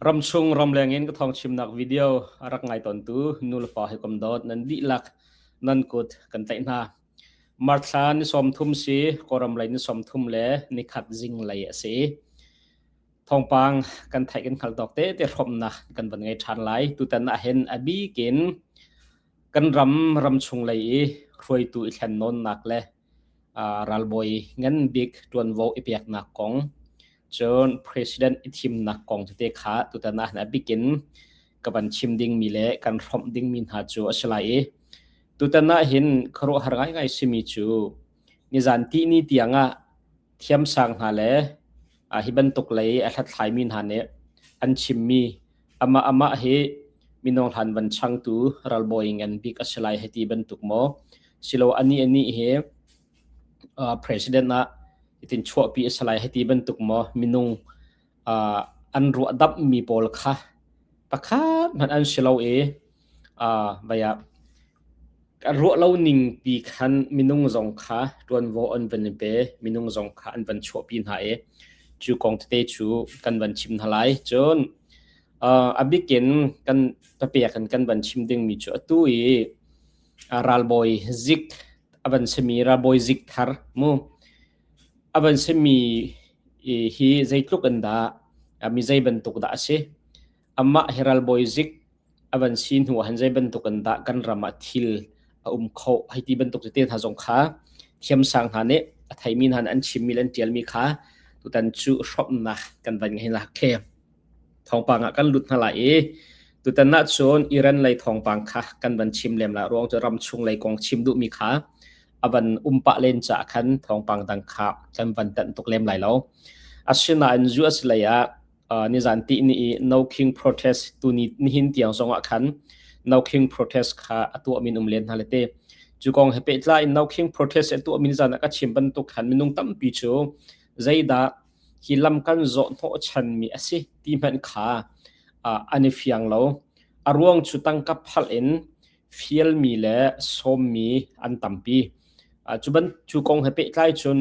Ramchung ramleng in ka thawngchimnak video a rak ngai tawntu nulepa hawikom dawt nan dihlak nan kut kan tlaih hna. Marthla ni sawmthum si Kawlram lei ni sawmthum le nikhat zing lei a si. Thawngpang kan theih kan hngalh tawk tete hrawmnak kan van ngei ṭhan lai. Tutan ahhin a bikin kan ram ramchung lei i hruaitu i thlen nawnnak le ralbawi ngan bik ṭuanvo i peknak kong, cun president i thimnak kong tete kha tutan ah na bikin ka van chim dingmi le kan hrawmh dingmi hna cu a si lai i tutan ah hin khuaruahhar ngaingai simi cu nizan ti ni tiang ah thiamsang hna le hi bantuk lei a hlathlaimi hna nih an chimmi Amah hi mino hlan van changtu ralbawi ngan bik a si lai hei ti bantuk maw. Silo ani ani hi uh, president ah itin chuahpi a si lai hei ti bantuk maw minung uh, an ruah dap mi pawl kha pakhat man an silo i vaiah a ruah lo ning pi khan minung zong kha ṭuanvo an van i pe minung zong kha an van chuahpi hna i cu kong tete cu kan van chim hna lai cun a bikin kan papek in kan van chim dingmi cu atu i ralbawi zik a van simi ralbawi zik thar mu a van simi hi zeitluk in dah mi zei bantuk dah a si Amah hi ralbawi zik a van si hnu ah han zei bantuk in dah kan ram ah thil a um kho hei ti bantuk tete hna zong kha thiamsang hna nih a theimi hna nih an chimmi le an tialmi kha tutan cu hrawmnak kan van ngei la khe thawngpang ah kan lut hna lai i tutan na cun Iran lei thawngpang kha kan van chim lem la ruang cu ram chung lei kong chim duhmi kha avan umpa len ca khan thawngpang dang kha kan van tan tuk lem lai lo asinain zu asilei ah nizan ti ni i No King Protest tu ni nihin tiang zong ah khan No King Protest kha atu min um len hna lete cu kong he pehtlai No King Protest atu min zan ah ka chim bantuk khan minung tampi cu zeidah hi lam kan zoh thawh chan mi asi ti hman kha an i fiang lo a ruang cu tangka phal in fial mi le sawm mi an tampi cu ban cu kong he pehtlai cun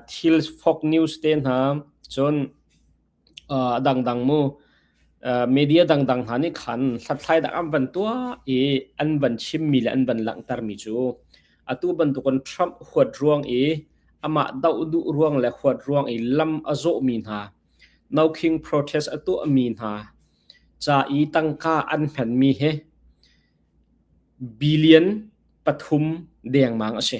thil fok news te hna cun a dangdang mu media dangdang hna nih khan hlathlai dah an van tuah i an van chimmi le an van langhtermi cu atu bantukin Trump huat ruang i amah doh duh ruang le huat ruang i lam a zawhmi hna no king protest a tuahmi hna ca i tangka an hmanmi he billion pathum dengmang a si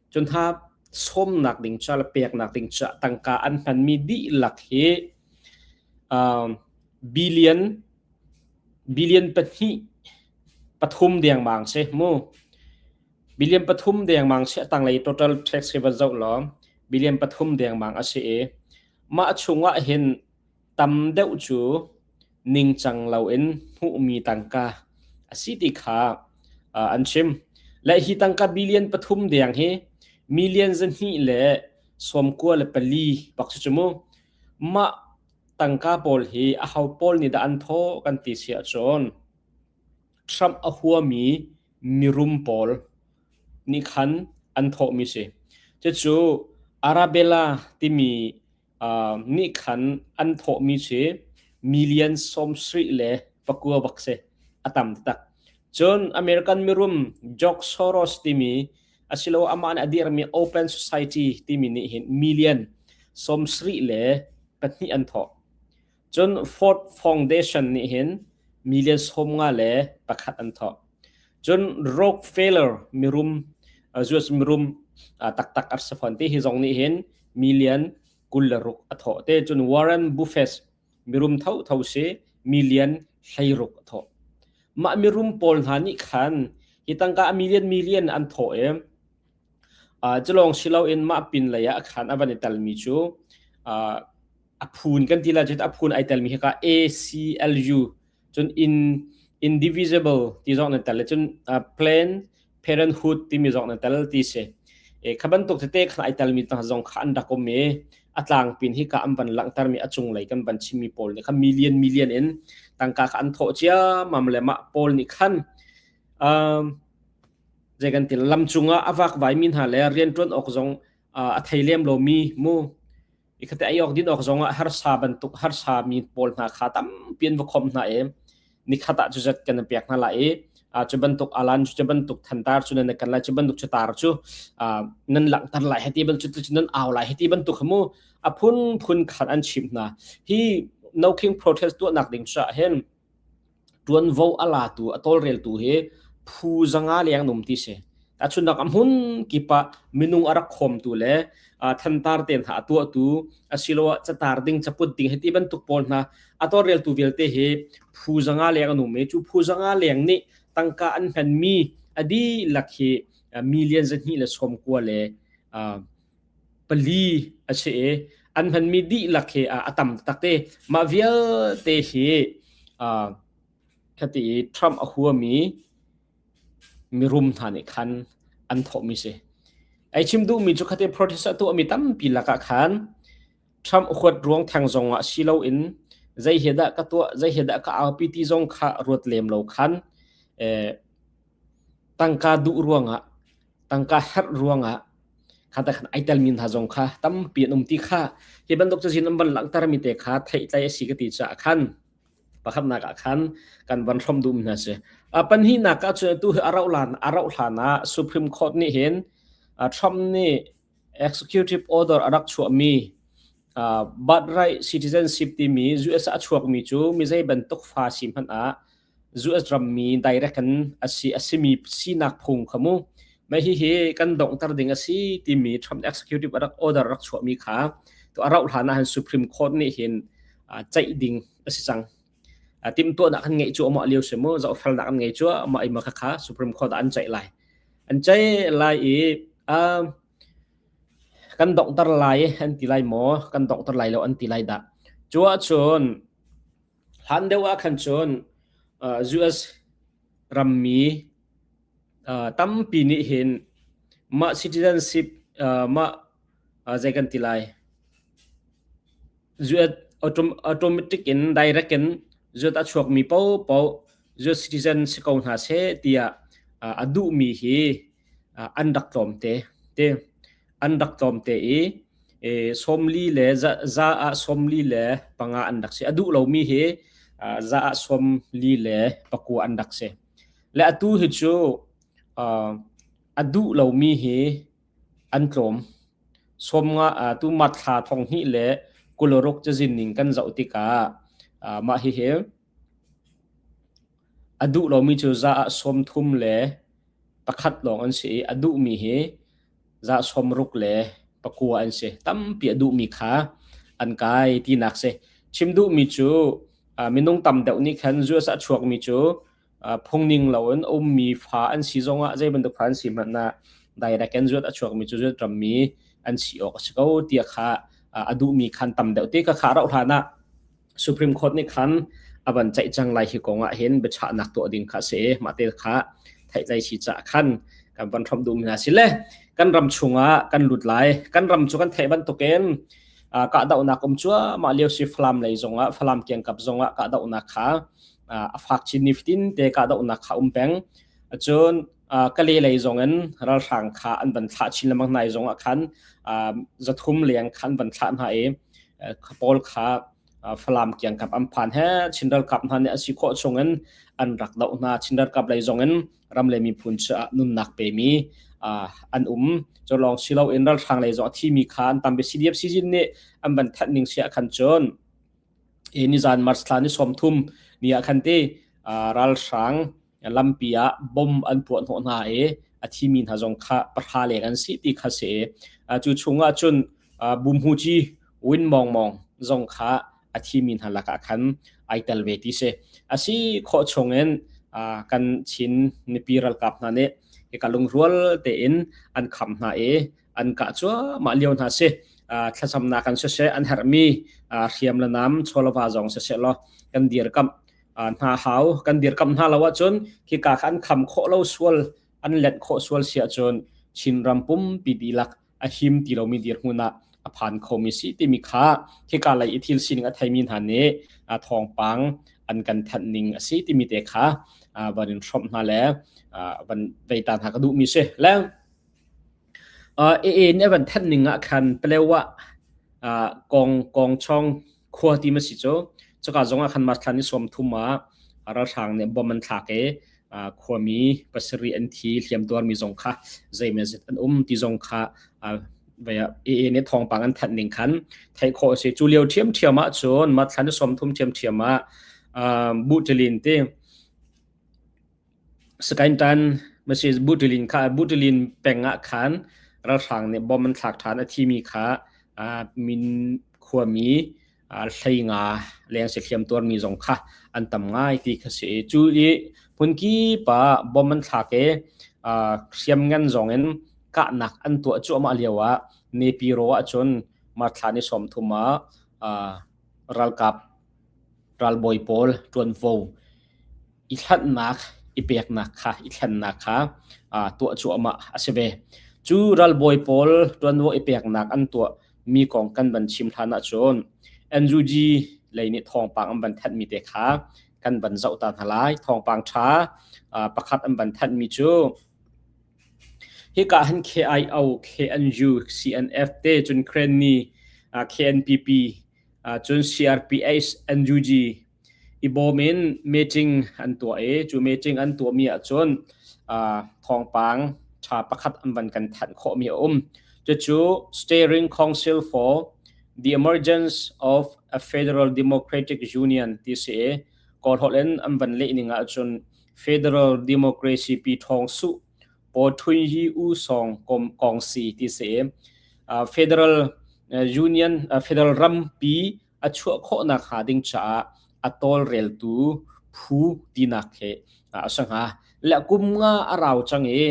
cun hna sawmnak ding ca le peknak ding ca tangka an hmanmi dihlak hi uh, billion billion pahnih pathum dengmang se mu billion pathum dengmang se tanglei total tax hi van zo lo billion pathum dengmang a si i mah chungah hin Tam deuh cu ningcang loin hmuhmi tangka a si ti kha an chim. Le hi tangka billion pathum deng hi million zahnih le sawm kua le pali bak cu mu. Mah tangka pawl hi a ho pawl nih dah an thawh kan ti si ahcun Trump a huami mirum pawl nih khan an thawhmi si. Cucu Arabella timi nih khan an thawhmi cu million sawmsarih le pakua bak si a tam taktak cun American mirum George Soros timi asilo amah nih a dirmi Open Society timi nih hin million sawmsarih le pahnih an thawh Cun Ford Foundation nih hin million sawm nga le pakhat an thawh. Cun Rockefeller mirum US mirum taktak ar si fawn ti hi zong nih hin million kul le ruk a thawh te cun Warren Buffett mirum tho tho si million hleiruk a thawh. Mah mirum pawl hna nih khan hi tangka a million million an thawh i culawng si loin mah pin lei ah khan a van i telmi cu a phun kan ti la cun a phun ai telmi hi ka ACLU cun in indivisible ti zong nan tel le cun planned parenthood timi zong nan tel ti si e kha bantuk tete khan ai telmi tang zong kha an rak um e a tlang pin hi ka an van langhtermi a cung lei kan van chimmi pawl nih kha million million in tangka kha an thawh ciamam le mah pawl nih khan um, je kan til lam cungah avak vai min ha le rian tuan ok zong a thei lem lo mi mu Ikhate ai awk din awk zongah harsa bantuk harsa mi pawl hna kha tampi an va khom hna i nikhat ah cu zat kan an pek hna lai i uh, cu bantuk alan cu bantuk thantar cu nan kan lai cu bantuk chutar cu uh, nan langhter lai heti ban cu nan au lai heti bantuk khamu aphun phun khan an chim hna hi no king protest tuah nak ding cha hen ṭuanvo a latu a tawlreltu hi phu zanga leng num ti si. A chunnak a hmun kip ah minung a rak khawmtu le uh, thantar tein hna a tuahtu asiloah catar ding caput ding hiti bantuk pawl hna a tawlreltu vialte hi phu zanga leng a num i cu phu zanga leng nih tangka an hmanmi a dihlak hi uh, million zahnih le sawm kua le uh, pali a si i an hmanmi dihlak hi a tam taktak i mah vialte hi khati i Trump a huami mirum hna nih khan an thawhmi si. Ai chim duhmi cu khati protest a tuahmi tampi lakah khan Trump huat ruang thang zong ah si loin zei hi dah ka tuah zei hi dah ka aupi ti zong kha ruat lem lo khan tangka duh ruangah tangka herh ruangah khata khan ai telmi hna zong kha tampi an um ti kha hi bantuk cazin an van langhtermi te kha theihtlai a si ka ti caah khan pakhatnak ah khan kan van hrom dum hna si a panhnak ah cun tu hi arau lan arau hlan ah supreme court nih hin Trump nih executive order arak chuahmi birthright citizenship timi US a chuakmi cu mi zei bantuk fa si hmanh ah US ram mi direct in asi asimi sinak phung kha mu mai hi hi kan dongter ding asi timi Trump executive rak order rak chuah mi kha to arau hlana han Supreme Court ni hin chaih ding asi cang tim tua nak kan ngei chu ama liu se mu zau fel nak kan ngei chu ama ima kha kha Supreme Court an chaih lai an chaih lai i kan dongter lai an ti lai mo kan dongter lai lo an ti lai da chua chun Hlan deuh ah khan cun US rammi tampi nih hin mah citizenship mah zei kan ti lai automatic in direct in zuat a chuakmi paohpaoh US citizen si ko hna seh tiah a duhmi hi an rak tlawm te. an rak tlawm te i sawmli le za ah sawmli le panga an rak si a duh lomi hi za ah sawmli le pakua an rak si le atu hi cu a duh lomi hi an tlawm somnga tu mat thla thong hi le kuloruk cazin ning kan zoh tikah mah hi hi A duh lomi cu za ah sawm thum le pakhat lawng an si i a duhmi hi za sawm ruk le pakua an si. Tampi a duhmi kha an kai tinak si. Chim duhmi cu uh, minung tam deuh nih khan US ah chuakmi cu uh, phungning loin a ummi fa an si zongah zei bantuk fa an si hmanh ah direct in US a chuakmi cu US rammi an si awk a si ko tiah kha uh, a duhmi khan tam deuh te kha kha rauh hlan ah Supreme Court nih khan a van ceih cang lai hi kong ah hin biachahnak tuah ding kha a si mah te kha theihtlai si caah khan kan van hromh duhmi hna si le kan ram chungah kan lut lai kan ram cu kan theih bantukin kahdohnak um cuahmah lio si Falam lei zongah Falam kiangkap zongah kahdohnak kha a fak chin nifatin te kahdohnak kha um peng cun Kale lei zong in ralhrang kha an van thlah chin lengmang hna i zong ah khan zathum leng kha an van thlah hna i pawl kha Falam kiangkap an phan he Chin ralkap hna nih a si khawh chung in an rak doh hna Chin ralkap lei zong in ram le miphun cu ah nunnak pemi an um cu lawng si lo in ralhrang lei zong a thimi kha an tam bia CDF sizin nih an van thanh ning si ah khan cun e nizan March thla ni sawm thum ni ah khan te uh, ralhrang lampi ah bom an puah hnawh hna i a thimi hna zong kha pahra leng an si ti kha se uh, cu chungah cun uh, bumhuji win mong mong zong kha a thimi hna lakah khan ai tel ve ti se asi kho chungin uh, kan chin nipi ralkap hna nih ka lungrual te in an kham hna i an kah cuahmah lio hna si thlacamnak kan siseh an herhmi hriam le nam chawlava zong siseh law kan dirkamh hna hau kan dirkamh hna lo ahcun khika khan kham khawh lo sual an let khawh sual si ahcun Chin ram pumpi dilak a him ti lomi dirhmun ah a phan khomi si timi kha khika lei i thil sining a theimi hna nih thawngpang an kan thanh ning a si timi te kha van in hrawm hna le van vei ta hna ka duhmi si le A-inn a van thenh ning ahkhan Paleo ah Kawngchawng khua ti ma si cu, cuka zong ahkhan marthlan i sawm thum ah ralhrang nih bomb an thlak i khuami pasarih an thi. Hliamtuarmi zong kha zeimazet an um ti zong kha A-inn i thawngpang an thanh ning khan theih khawh a si. Cu lio ṭhiamṭhiam ahcun marthlan i sawm thum ṭhiamṭhiam ah Buṭalin ti Sakaintan message butilin kha butilin peng ah khan ralhrang nih bomb an thlak ṭhan a thimi kha min khuami hlei nga leng si hliam tuarmi zong kha an tam ngai ti kha si. Cu i hmun kip ah bomb an thlak i hriamngan zong in kahnak an tuah cuahmah lio ah Nepiro ahcun March thla ni sawm thum ah ralkap ralbawi pawl ṭuanvo i thlannak i peknak kha i thlennak kha aa tuah cuahmah a si ve. Cu ralbawi pawl ṭuanvo i peknak an tuahmi kong kan van chim hlan ahcun NUG lei nih thawngpang an van thanhmi te kha kan van zoh ta hna lai. Thawngpang ṭha aa pakhat an van thanhmi cu hika han KIO, KNU, CNF te cun Kren ni, aa KNPP, aa cun CRPH, NUG i bawm in meeting an tuah i cu meeting an tuahmi ahcun uh, thawngpang ṭha pakhat an van kan thanh khawhmi a um. Cucu Steering Council for the Emergence of a Federal Democratic Union ti si i kawlholh in an van leh ning ahcun Federal Democracy pi ṭhawng su po ṭhui hi u song kom kong si ti si uh, Federal uh, Union uh, Federal ram pi a chuah khawh nakhnga ding caah a tawlreltu phu tinak he a si hnga. Le kum nga a rau cang i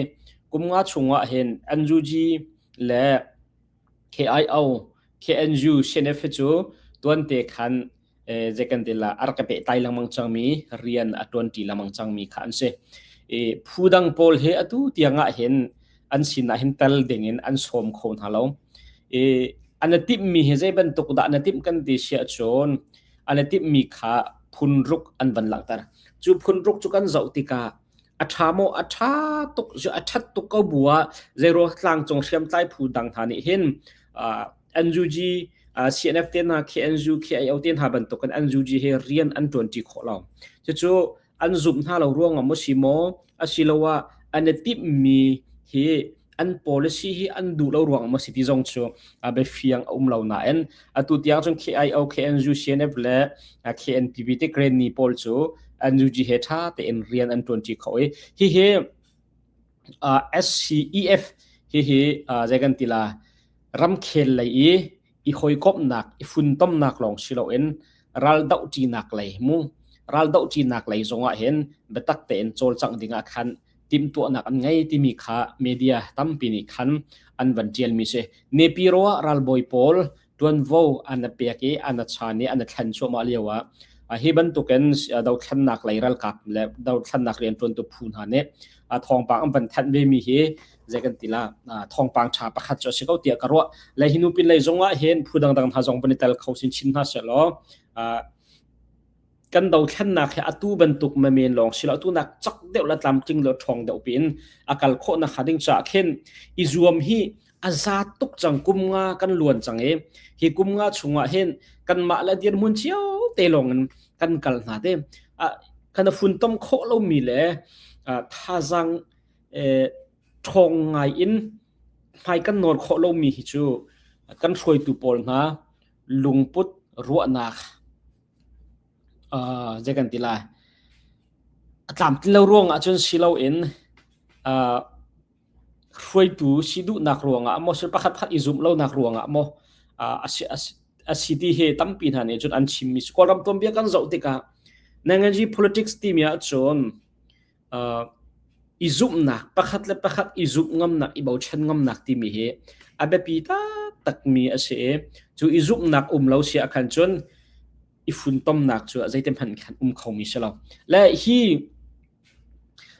kum nga chungah hin NUG le KIO KNU CNF cu tuante khan zekan te la ar ka pe tai lengmang changmi rian a tuanti lengmang changmi kha an si. E, phu dang pawl he atu tiangah hin an sin ah hin tel ding in an sawm kho hna lo i an timh mi hi zei bantuk dah na timh kan ti sia chun an timh mi kha phun ruk an van langhter cu phun ruk cu kan zoh tikah a tha mo a tha tuk a that tuk ko bua zero tlang cung hriam tlai phu dang tha nih hin anju ji CNF te na KNU KIO te na bantuk an anju ji he rian an tuan ti kho lo chu an zumh hna lo ruangah maw si maw asiloah an i timhmi hi an policy hi an duh lo ruang maw si ti zong cu biafiang a um lo nain atu tiang cun KIO KNU CNF le KNPP te Granny pawl cu an UG he ṭha tein rian an ṭuanṭi kho i hihi SCEF hihi zeikan tila ramkhel lei i i hawikomhnak i funtomnak lawng si loin raldohṭinak lei mu raldohṭinak lei zongah hin biatak tein cawlcangh dingah khan timhtuahnak an ngei timi kha media tampi nih khan an van ṭialmi si nepi ro ah ralbawi pawl ṭuanvo an a pek i an a chan i an a thlen cuahmah lio ah hi bantukin dothlennak lei ralkap le dothlennak rianṭuantu phu hna nih thawngpang an van thanh vemi hi zei kan ti la thawngpang ṭha pakhat cu a si ko tiah ka ruah le hi nu pinlei zong ah hin phu dangdang hna zong van i tel kho sin chin hna seh law kan dothlennak hi atu bantuk ma men lawng si lo atu nak chak deuh la tlam tling lo thong deuh pin akal kho na kha ding cha khen i zuam hi aza tuk chang kum nga kan luan chang e hi kum nga chunga hin kan ma la dir mun chiao te long in kan kal na te a kana fun tom kho lo mi le thazang ṭhawng ngai in hmai kan nawl khawh lomi hi cu kan hruaitu pawl hna lungput ruahnak uh, zei kan ti lai a tlam ti lo ruang ahcun si loin uh, hruaitu si duhnak ruangah maw sul pakhat pakhat i zum lonak ruangah maw uh, asi, asi, asi ti he tampi hna nih cun an chimmi Kawlram tuanbia kan zoh tikah Nanganji politics timi ahcun i zumhnak pakhat le pakhat i zumh ngamnak i bochan ngamnak timi hi a biapi taktakmi a si i cu i zumhnak um lo si ah khan cun i funtomnak cu zeitin hmanh khan um khomi si lo le hi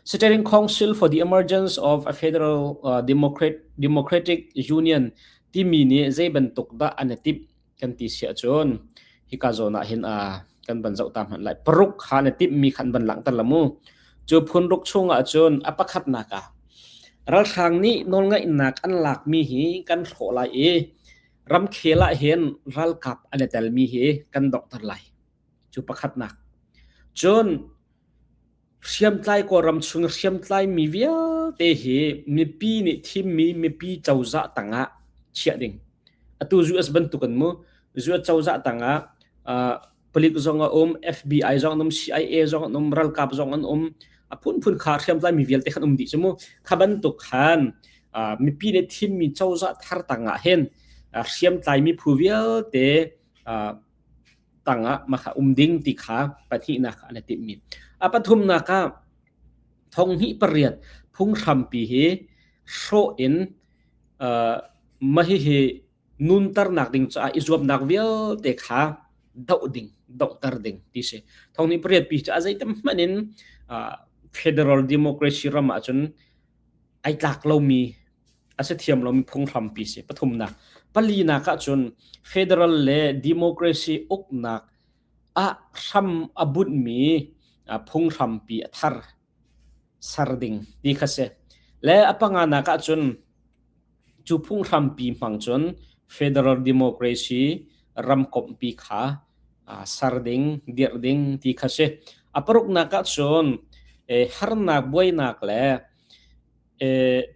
Steering Council for the Emergence of a Federal uh, Democrat, Democratic Union timi nih zei bantuk dah an i timh kan ti siah cun hika zawn ah hin a kan van zoh ta hmanh lai paruk ha na timhmi khan van langhter la mu cu phun ruk chung ah cun a pakhatnak ah ralhrang nih nawlngaihnak an lakmi hi kan hlawh lai i ramkhel ah hin ralkap an i telmi hi kan donghter lai cu pakhatnak cun Hriamtlai Kawlram chung hriamtlaimi vialte hi mipi nih thimmi mipi cozah tangah chiah ding. Atu US bantuk an mu. US cozah tangah uh, palik zong a um, FBI zong an um, CIA zong an um, ralkap zong an um. A phunphun kha hriamtlaimi vialte khan um dih cumu. Kha bantuk khan uh, mipi nih thimmi cozah thar tangah hen uh, hriamtlaimi phu vialte uh, tangah maka um ding ti kha pathihnak an timmi a pathumnak ah thong hnih pariat phung hrampi hi hrawh in mahi hi nunternak ding caah i zuamnak vialte kha doh ding dohter ding ti si thong ni pariat pi ca zeitam hman in federal democracy ram ahcun ai tlak lomi a si thiam lomi phunghrampi si. Pathumnak, palinak ahcun federal le democracy uknak ah hram a bunhmi phunghrampi a thar ser ding ti kha si. Le a panganak ahcun cu phunghrampi hmang cun federal democracy ramkompi kha ser ding, dirh ding ti kha si. A paruknak ahcun harnak buainak le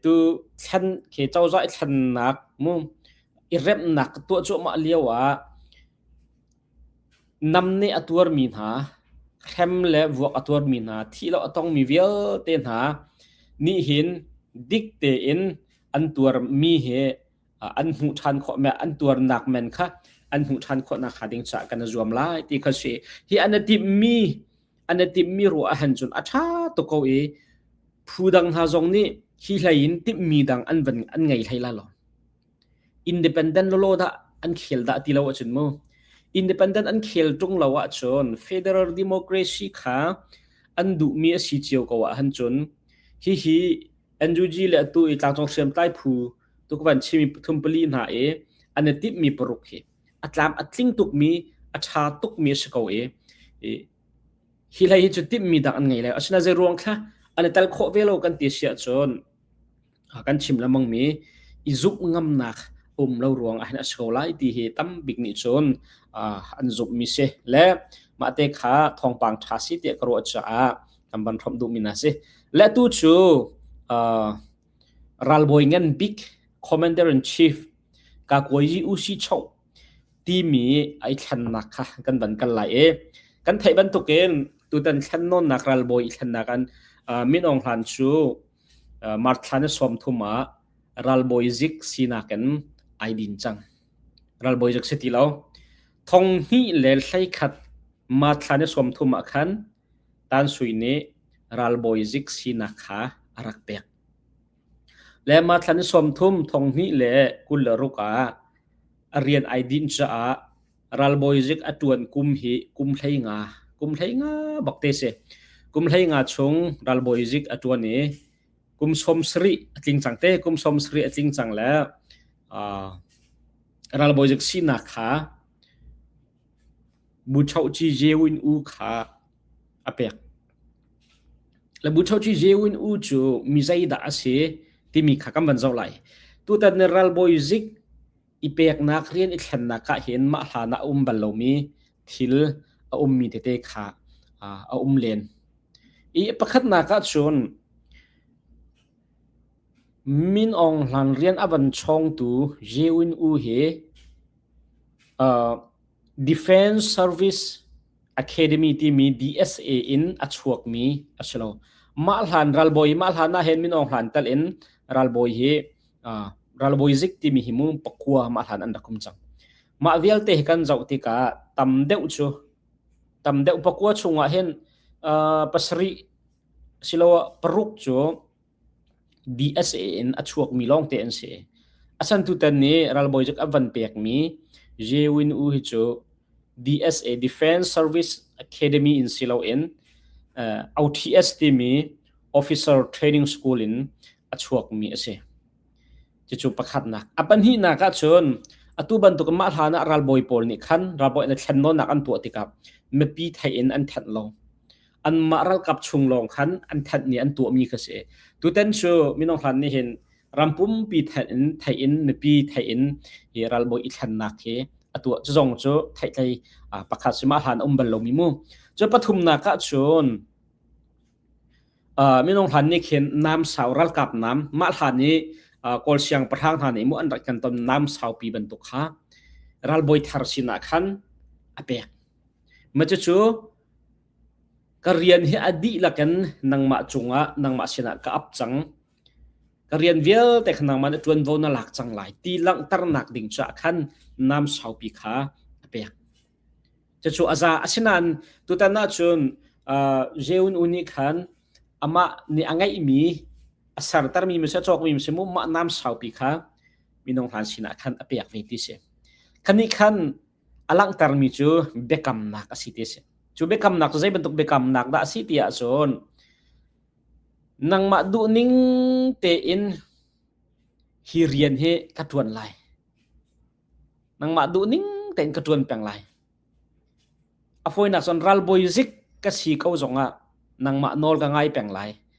tu thlen khi cozah i thlennak mu i remnak ka tuah cuahmah lio ah nam nih a tuarmi hna hrem le vuak a tuarmi hna thih lo a tongmi vialte hna nih hin dik tein an tuarmi he an hmuh ṭhan khawh an tuarnak men kha an hmuh ṭhan khawh nakhnga ding caah kan i zuam lai ti kha si hi an i timhmi an i timhmi ruah ahhan cun a ṭha tuk ko i phu dang hna zong nih hi hlei in timhmi dang an van an ngei hlei la lo independent lolo dah an khel dah ti lo ahcun mu independent an khel ṭung lo ahcun federal democracy kha an duhmi a si cio ko ahhan cun hihi NUG le atu i tlangcung hriamtlai phu tuk van chimi pathum pali hna i an i timhmi paruk hi a tlam a tling tukmi a ṭha tukmi a si ko i hi hlei hi cu timhmi dak an ngei lai asina zei ruang thla an i tel khawh ve lo kan ti si ahcun kan chim lamangmi i zumh ngamnak um lo ruang ahhin a si ko lai ti hi tam bik nih cun an zumhmi si le mah te kha thawngpang ṭha si tiah ka ruah caah kan van hromh duhmi na si le tu cu Ralbawi ngan bik Commander-in-Chief Kakuayi Ushichow timi ai thlannak kha kan van kal lai i kan theih bantukin tutan thlannawnnak ralbawi i thlannak an uh, Min Aung Hlain cu uh, March thla ni sawm thum ah ralbawi zik sinak in ai din cang ralbawi zik si ti lo thong hnih le hlei khat March thla ni sawm thum ah khan Tan Sui nih ralbawi zik sinak kha a rak pek. Le Mathlan i sawmthum thong hnih le kul le ruk ah a rian ai dinh caah ralbawi zik a ṭuan kum hi kum hlei nga, kum hlei nga bak te si. Kum hlei nga chung ralbawi zik a ṭuan i kum sawm sarih a tling cang te. Kum sawm sarih a tling cang le aa ralbawi zik sinak kha Buchohci Jeewin U kha a pek. Le Buchohci Jeewin U cu mi zeidah a si timi kha kan van zoh lai. Tutan ni ralbawi zik i peknak rian i thlennak ah hin mah hlan ah a um bal lomi thil a ummi tete kha uh, a um len. I pakhatnak ah cun Min Aung Hlang rian a van chawngtu Jeewin U hi Defence Service Academy timi DSA in a chuakmi a si lo. Mah hlan ralbawi mah hlan ah hin Min Aung Hlain tal in ralbawi hi uh, ralbawi zik timi hi mu pakua mah hlan an rak um cang. Mah vialte hi kan zoh tikah tam deuh cu tam deuh pakua chungah hin uh, pasarih silo paruk cu Dih a si in a chuakmi lawngte an si. A san tutan nih ralbawi cuk a van pekmi Jewin U hi cu DSA Defense Service Academy in si loin uh, OTS timi Officer Training School in a chuakmi a si. Cucu pakhatnak. A pahnihnak ah cun atu bantuk mah hlan ah ralbawi pawl nih khan ralbawi an thlen nawnnak an tuah tikah mipi theih in an thanh lo. anmah ralkap chung lawng khan an thanh ni an tuahmi kha si tutan cu minung hlan ni hin rampumpi thein in thein in mipi thein in hi ralbawi i thlennak hi atuah cu zong cu theitlei pakhat sima hlan um bal lomi mu cu pathumnak ka chun minung hlan ni khin nam sau ralkap nam mah hlan ni kol siang pahrang hna nih mu an rat kan ton nam sau pi bantuk kha ralboi thar sinah khan apek ma chu Ka rian hi a dihlak in nangmah cungah nangmah sinah ka ap cang. Ka rian vialte kha nangmah nih ṭuanvo na lak cang lai ti langhternak ding caah khan nam saupi kha a pek. Cucu a za. Asinain tutan ahcun uh, Jeun U nih khan amah nih a ngeihmi a sertermi misi, a cawkmi misi mu mah nam saupi kha minung hlan sinah khan a pek ve ti si. Khanih khan a langhtermi cu biakamnak a si ti a si. Cu biakamnak cu zei bantuk biakamnak dah a si ti ahcun nangmah duhning tein hi rian hi ka ṭuan lai. Nangmah duhning tein ka ṭuan peng lai. A fawinak cun ralbawi zik ka si ko zongah nangmah nawl ka ngai peng lai.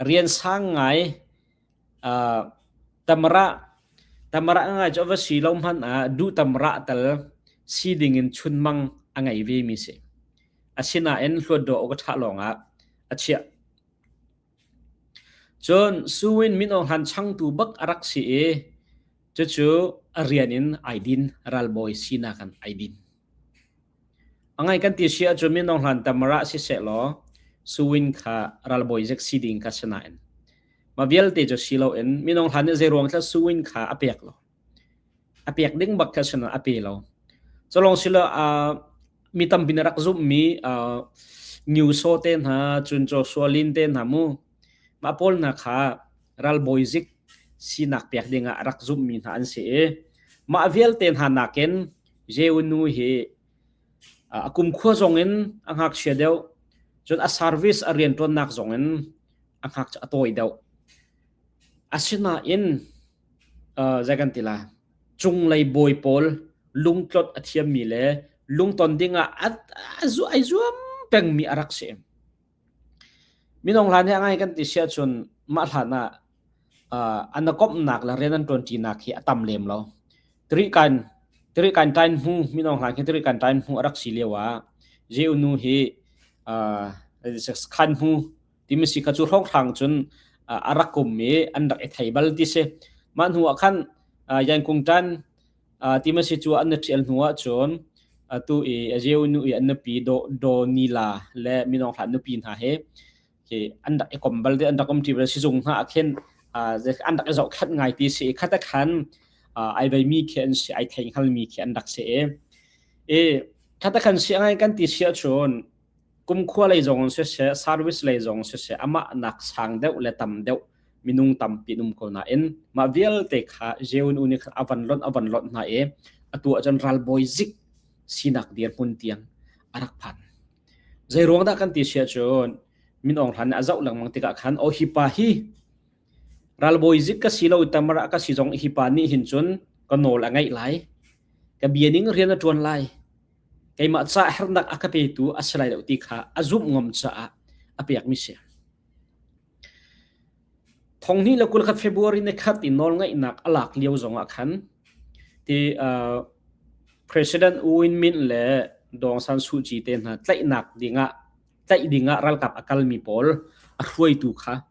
rian sang ngai uh, tamra tamra ngai chu va si lo hman ah du tamra tal si ding in chun mang a ngei ve mi si asina en hluat do ka tha long a achia cun suwin min ong han chang tu bak arak si e chu chu rian in aidin ralboy sina kan aidin A ngaih kan ti si ahcun minung hlan tamrah sisehlaw suwin kha ralbawi zek si ding kha si nain mah vialte cu si loin minung hlan nih zeiruang thlak suwin kha a pek lo. A pek ding bak kha sinah a pe lo. Culong silo uh, mi tampi na rak zummi uh, Nyuso te hna, Cunco Sualin te hna mu, mah pawl hna kha ralbawi zik sinak pek dingah rak zummi hna an si i mah vialte hna nakin Jehu nu hi a kumkhua zongin a ngakchia deuh cun a service a rian ṭuannak zongin a ngak a tawi deuh. Asinain zei kan ti lai cunglei bawi pawl lungtlot a thiammi le lungton dingah a zuam pengmi a rak si. Minung hlan hi a ngai kan ti si ahcun mah hlan ah uh, an komhnak le rian an ṭuanṭinak hi a tam lem lo. Tirikan Tirikan tain hnu minung hlan khi Tirikan tain hnu a rak si lio ah Jew nu hi uh, khan hnu timi si kha cu hrokhraang cun uh, a rak um i an rak i thei bal ti si. Mah hnu ah khan uh, Yankung ṭan ti ma si cu an na ṭial hnu ahcun atu i a zeu nu i an nupi Donila le minung hlah nupi hna hi hi an rak i kom bal ti an rak um ṭi bal sizung hna ah khin an rak i zohkhenh ngai ti si i khata khan ai beimi khi an si ai theinghal mi khi an rak si i khata khan si a ngai kan ti si ahcun kumkhua lei zongin siseh service lei zong siseh amah nak sang deuh le tam deuh minung tampi an um ko nain mah vialte kha jeun uni khan avan lonh avan lonh hna i atu ahcun ralbawi zik sinak dirhmun tiang arak phan zei ruang dah kan ti sia cun min ong hran a zoh lengmang tikah khan o hipa hi Ralbawi zik ka si lo i tamar ah ka si zong hi pa nih hin cun ka nawl a ngaih lai. Ka bia ning rian a ṭuan lai. Keimah caah hernak a ka petu a si lai lo ti kha a zumh ngam caah a pekmi si. Thonghni le kul khat February ne khat i nawlngaihnak a lak lio zongah khan ti uh, President U Win Myint le Dong San Suu Kyi te hna tlaihnak dingah tlaih dingah ralkap a kalmi pawl a hruaitu kha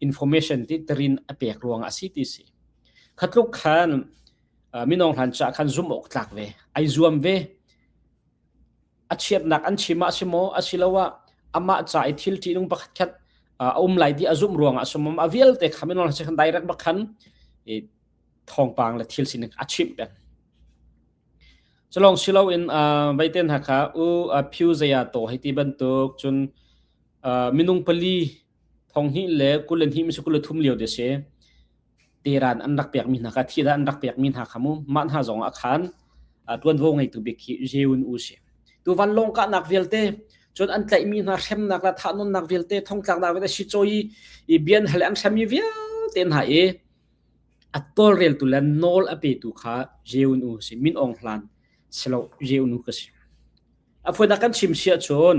information titer in a pek ruang a si ti si khatluk khan minong hlan cha khan zum awk tlak ve ai zuam ve a chiatnak an chim ah si maw a si lo ah amah cha i thil ti nung pakhat khat a um lai di a zum ruang ah sumam a vialte khamin on se khan direct bakhan i thongpang le thil sining a chim pen chalong silo in vaiten ha kha u phu zaya to haiti bantuk chun minung pali thong hnih le kul le hnih kul le thum lio te si teran an rak pekmi hna kha thida an rak pekmi hna kha mu mah hna zong ah khan tuanvo ngeitu bik khi Jeun U si tu vanlong kahnak vialte cun an tlaihmi hna hremnak la thahnawnnak vialte thongtlaknak vialte si choi i bian hal an hremmi vialte hna i a tolreltu le nawl a petu kha Jeun U si min ong hlan selo Jeun U ka si afuina kan chim sia chun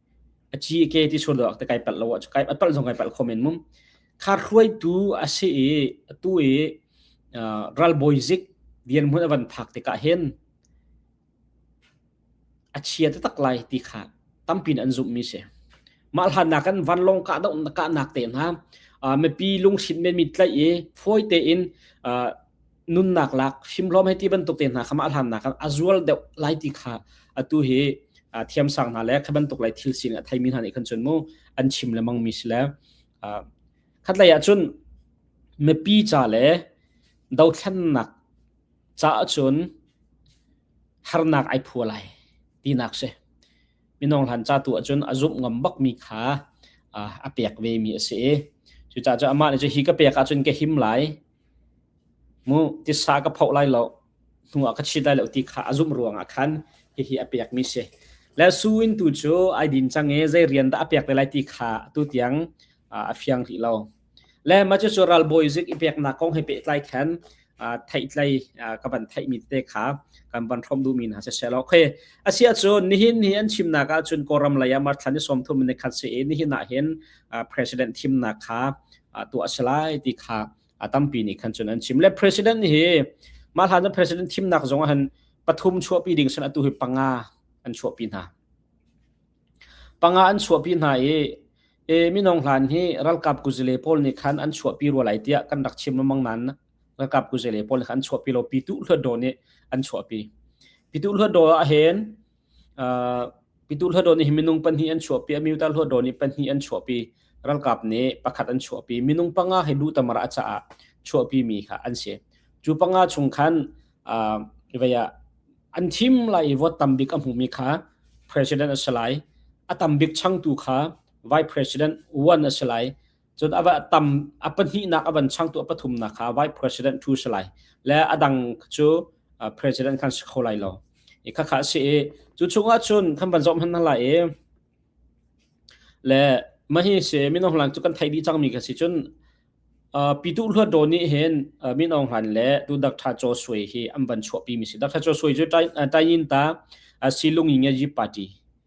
a ci a ke ti sual lo te kai palh lo kai a palh zong kai palh kho men mum khar hruai tu a si i tu i ralbawi zik vian mun avan phak te ka hen a chia te tak lai ti kha tampin an zum mi se ma hlan na kan van long ka dong ka nak te na mipi lungship men mi tlai e phoi te in nunnak lak fimhlawm hei ti bantuk te hna kha mah hlannak a zual deuh lai ti kha atu hi thiam sang hna le kha bantuk lai thil sin a thaimi hna nih khan chun mu an chim le mang mi si le khat lei ah cun mipi ca le dothlennak ca cun harnak ai phua lai tinak si minong hlan ca tu ahcun a zumh ngam bak mi kha a pek ve mi a si i cucaah cu amah nih cu hi ka pek ahcun ka him lai Mu tisa ka phoh lai lo, hnu ah ka chit lai lo ti kha a zumh ruangah khan hihi a pekmi si. Le su in tu cu ai din cang i zei rian dah a pek te lai ti kha atu tiang a fiang rih lo. Le mah cucu ralbawi zik i peknak kong he pehtlai khan theihtlei ka van theihmi tete kha kan van hrom duhmi hna sisehlaw okay asia cu nihin hi an chimnak ahcun kawlram lei ah marthlan i sawmthum in khat si i nihin ahhin president thimnak kha tuah a si lai ti kha a tampi nih khan cun an chim le president hi mah hlan president thimnak zong ah han pathum chuahpi ding sin atu hi panga an chuahpi hna panga an chuahpi hna i e minong hlan hi ralkap kuzile pawl nih khan an chuahpi rua lai tiah kan rak chim lamang nan ralkap kuzile pawl nih khan an chuahpi lo pitu hluat do nih an chuahpi pitu hluat do ah hen Pitu hlawdawn hi minung pahnih an chuahpi, a miutar hlawdawn hi pahnih an chuahpi. Ralkap nih pakhat an chuahpi. Minung panga hi lutamar a caah chuahpi mi kha an si. Cu panga chung khan an thim lai i vote tambik a hmumi kha president a si lai. A tambik changtu kha vice president one a si lai. cun a tam a pahnihnak a van changtu a pathumnak kha vice president thu si lai le a dang cu president khan si kho lai lo i khakha si i cu chungah cun kan van zom han na lai i le mahi se minong hlan cu kan thai di cang mi ka si cun pitu hluat do ni hin minong hlan le tu dak tha cho sui hi an van chuah pi mi si dak tha cho sui cu tai yin ta silung yin ye party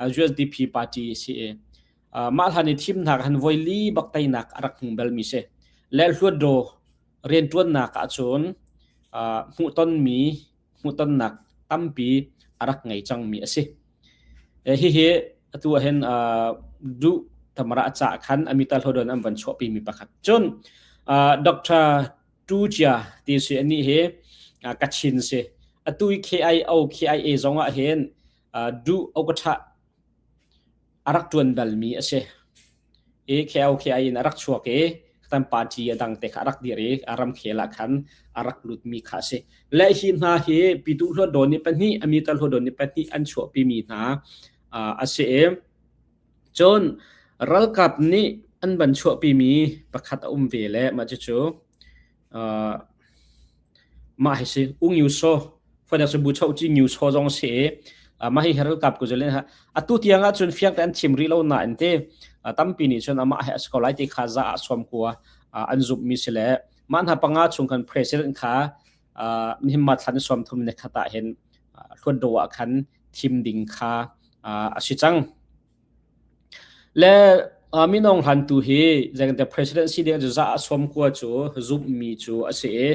USDP party a si i mah hlan i thimnak han voi li bak teinak a rak hmu belmi si le hluatdaw rianṭuannak ahcun hmuhtonmi hmuhtonnak tampi a rak ngei cangmi a si hihi atu ahhin duh tamara ca khan amital hodon an van chuahpimi pakhat cun Dr. Tu Jia ti si anih hi Kachin si atui KIO KIA zong ah hin duh awkaṭha a rak ṭuan balmi a si i kheo khea in a rak chuak i kan party a dang te kha a rak dir i a ramkhel ah khan a rak lutmi kha a si le hi hna hi pitu hlodon ni pahnih a mita hlodon ni pahnih an chuahpimi hna a si i cun ralkap nih an van chuahpimi pakhat a um ve le mah cucu Mah hi si Ung Nyu Saw Fadak cu Bu Chauh Ci Nyu Saw zong si i mah hi heral kap ku zelen ha atu tiang ah cun fiang te an thim rih lo na in te tampi nih cun amah hi a si ko lai ti kha za ah suam kua an zumh mi si le mah hna panga chung khan president kha mihimma thlan suam thum ne khata hin thluan do ah khan thim ding kha a si cang Le minung hlantu hi zeicahtiah president si ding cu za a sawm kua cu zumhmi cu a si i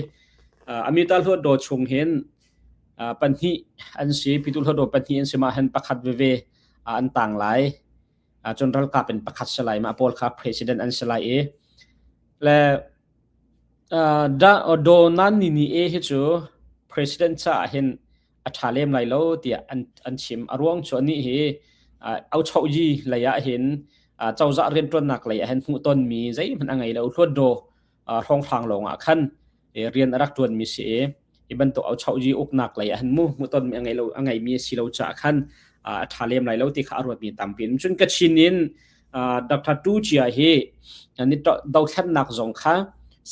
amita hluatdaw chung hin pahnih an si pitu hluatdaw pahnih an si mah hen pakhat veve an tang lai cun ralkap in pakhat si lai mah pawl kha president an si lai i le Donald ni ni hi cu president caah hin a ṭha lem lai lo tiah an an chim. A ruang cu anih hi uh, auchoyi lei ah hin uh, cozah rianṭuannak lei ah hin hmuh tonmi zeihmanh a ngei lo hluatdaw uh, hrawnghrang lawng ah khan e, rian a rak ṭuanmi si i i bantuk auchoyi uknak lei ah hin mu hmuh tonmi a ngei lo a ngeimi si lo caah khan uh, a ṭha lem lai lo ti kha a ruatmi tampi in cun Kachin in uh, Dr. Tu Chia hi ni dothlennak zong kha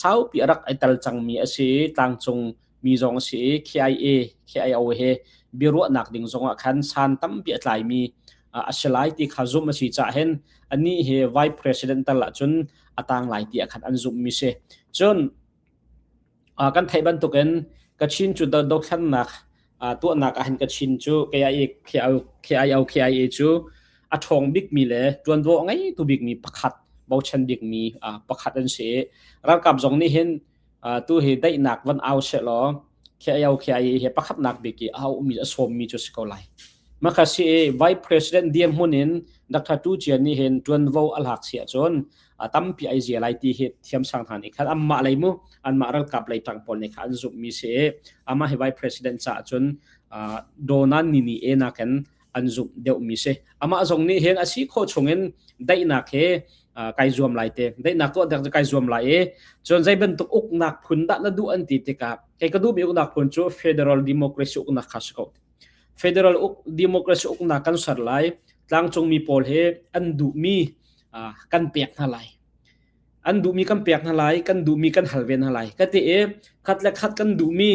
saupi a rak i tel cangmi a si tlangcung mi zong a si i KIA KIO he biaruahnak ding zongah khan san tampi a tlaimi a si lai ti kha zumh a si cah hen ani hi vice president tal ahcun a tang lai ti khan an zumh mi si cun kan theih bantukin kachin cu dothlannak tuahnak ahin kachin cu KIA KIO KIA cu a ṭhawng bikmi le ṭuanvo a ngei tu bikmi pakhat bochan bikmi pakhat an si ralkap zong nih hin Uh, tu hi daihnak van au se law khia yau khia hi he pakhat nak bik i a mi a som mi chu si ko lai makha si vice president diam hun in dr tu chian ni hen tuan vo alhak sia chon atampi ai zia lai ti hi thiam sang than i khat amma lai mu an ma ral kap lai tang pol ne khan zup mi se ama hi vice president cha chun donan ni ni e na ken an zumh deuhmi si amah zong nih hin a si khawh chungin daihnak he kai zuam lai te daihnak tuah dek kai zuam lai i cun zei bantuk uknak phun dah na duh an ti tikah kei ka duhmi uknak phun cu federal democracy uknak kha si ko federal uk democracy uknak kan ser lai tlangcungmi pawl he an duhmi kan pek hna lai an duhmi kan pek hna lai kan duhmi kan hal ve hna lai ka te e khat le khat kan duhmi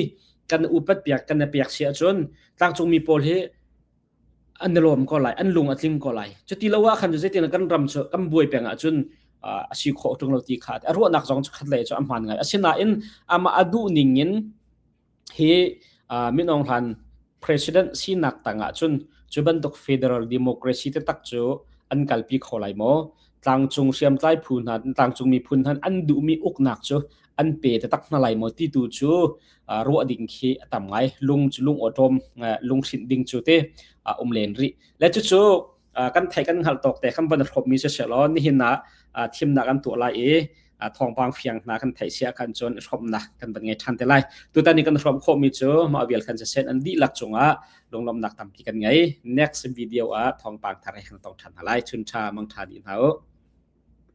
kan upat piak kan i pek si ahcun tlangcungmi pawl hi an i lawm ko lai an lung a tling ko lai cu ti lo ah khan zeitin kan ram cu kan buai peng ahcun a si khawh ṭung lo ti kha a ruahnak zong cu khat lei cu a hmaan ngai asinain amah a duh ning in hi min aung hlan president sinak tang ahcun cu bantuk federal democracy taktak cu an kalpi kho lai maw tlangcung hriamtlai phu hna tlangcung miphun hna an duhmi uknak cu an pe taktak hna lai maw ti tu cu ruah ding khi a tam ngai lung cu lung awṭawm lung hrinh ding cu te um len rih le cucu kan thei kan hngal tawk te kan van hrawp mi si se law nihin ah thimnak an tuah lai i thawngpang fiang hna kan theih sia khan cun hrawmnak kan van ngei than te lai tutan ni kan hrawm khawh mi cu ma vial khan se sen an di lak chungah lunglomnak tampi kan ngei next video ah thawngpang thar he kan tong than lai chun tha mang tha ni hna u